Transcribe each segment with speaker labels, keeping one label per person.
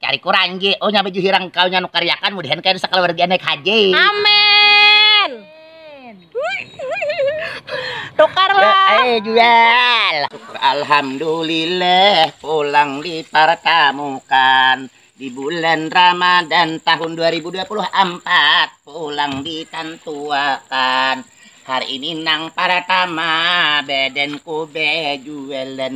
Speaker 1: Cari kurang Ji. Oh nya baju hirang kau nya nukariakan mudahan kaya nusa kaluarga naik haji. Amin.
Speaker 2: Tukar lah. Ae
Speaker 1: jual. Syukur alhamdulillah pulang dipartamukan di bulan Ramadan tahun dua ribu dua puluh ampat pulang ditantuakan hari ini nang partama badanku bejualan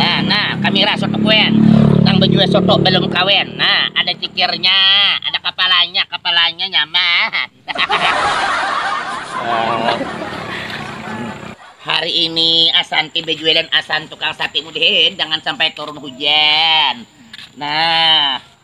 Speaker 1: Nah, nah, kamira soto kuen, nang bajual soto balum kawin. Nah, ada cikirnya, ada kapalanya, kapalanya nyaman. Hari ini Asanti bajualan asam tukang sate mudahan jangan sampai turun hujan. Nah.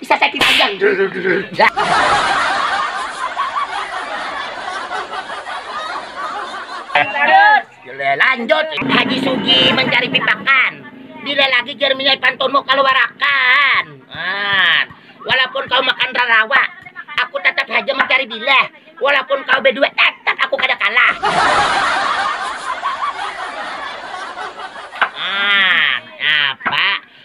Speaker 1: Bisa sakit pinggang. Lanjut, Haji Sugi mencari pipakan. Bila lagi jerminya pantunmu keluarakan. Nah, walaupun kau makan rarawa, aku tetap haja mencari bila. Walaupun kau berdua, tetap aku kada kalah. Nah, apa?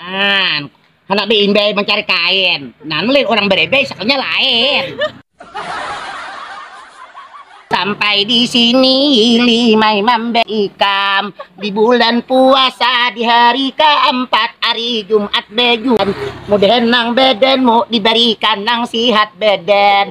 Speaker 2: An,
Speaker 1: handak beimbai mancari kain. Nah, lain orang berebai sakunya lain. Sampai di sini limai mambe ikam di bulan puasa di hari keempat hari Jumat bejuan mudahan nang badanmu diberikan nang sihat badan